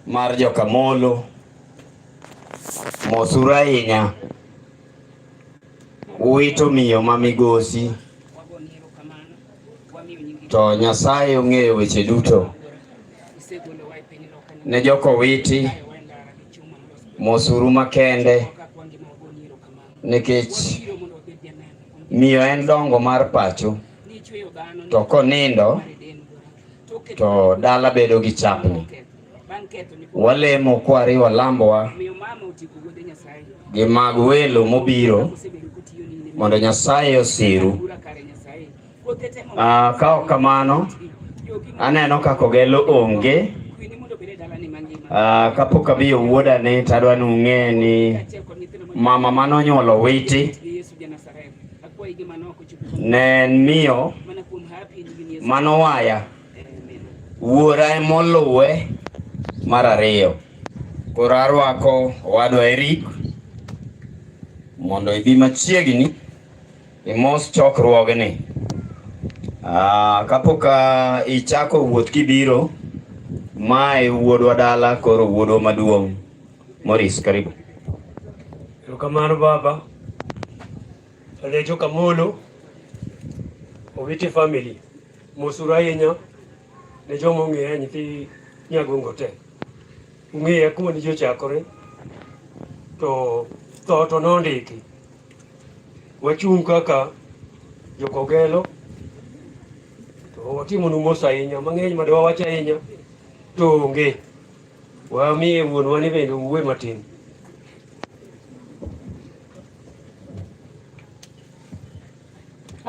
mar Jokamolo mosuru ahinya uwito miyo ma migosi to Nyasaye ong'eyo weche duto ne joko witi mosuru makende nikech miyo en dongo mar pacho to konindo to dala bedo gi chapni. Walemo kwariwo lambowa gi mag welo mobiro mondo Nyasaye osiru. Ah, ka ok kamano, aneno kaka ogelo onge ah, kapok abiyo wuoda ni tadwa ni ung'e ni mama manonyuolo witi Ne en miyo manowaya wuora emoluwe mar ariyo. Koro arwako owadwa Eric mondo ibi machiegni imos chokruogni. Ah, kapok ah, ichako wuoth kibiro, mae wuodwa dala koro wuodwa maduong'. Morris, karibu. Erokamano baba. Alejo Kamolo owiti family mosuru ahinya ne joma ong'eya nyithi Nyagongo te ung'eya kuma ne ji ochakore to tho to nondiki wachung' kaka jokogelo to watimonu mos ahinya mang'eny ma dwawacho ahinya to onge Wamiye wuonwa ni bende uwe matin.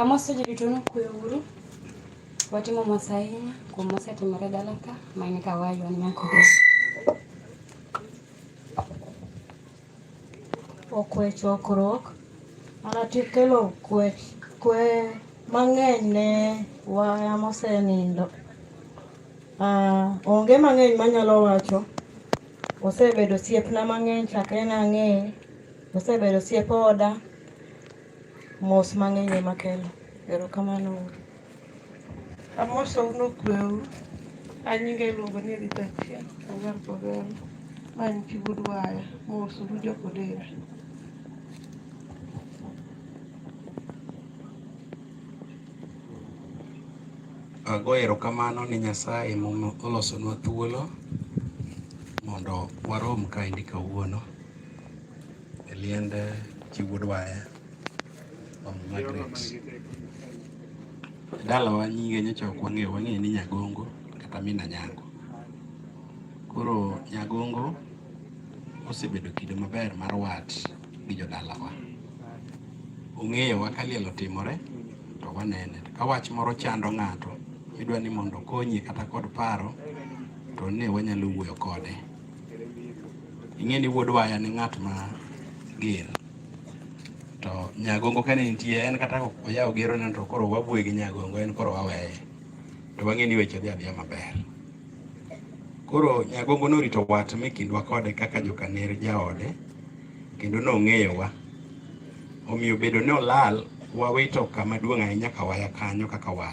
Amoso ji duto nokwe uru. Watimo mos ahinya kuom mosetimore dala ka ma en ka waywa nyako. okwe chokruok mana tikelo kwe, kwe mang'eny ne waya mosenindo. Uh, onge mang'eny manyalo wacho, osebedo siepna mang'eny chakre nang'eye, osebedo siep oda Mos mang'eny ema kelo. Erokamano. Amosou nokweu. An nyinga iluongo ni Rita Achieng' Ogar Kogal. Ma en chi wuod waya. Mos uru jok odera. Ago erokamano ne Nyasaye mom olosonwa thuolo mondo warom kaendi kawuono. e liend chi wuod waya Mama Margaret. Dalawa nyinge nyocha ok wang'eyo, wang'eyo ni Nyagongo kata Mina Nyango. Koro Nyagongo osebedo kido maber mar wat gi jodalawa. Ong'eyowa ka liel otimore to wanene. Ka wach moro chando ng'ato, idwa ni mondo okonye kata kod paro, to ne wanyalo wuoyo kode. ing'e ni wuod waya ni ng'at ma ger to nyagongo kane nitie en kata oyawo gero ne to koro wabue gi nyagongo en koro waweye to wang'e ni weche dhi adhiya maber koro nyagongo norito wat mi kindwa kode kaka jokaner jaode kendo nong'eyowa omiyo bedo ni olal wawito kama duong' ahinya ka waya kanyo kaka wat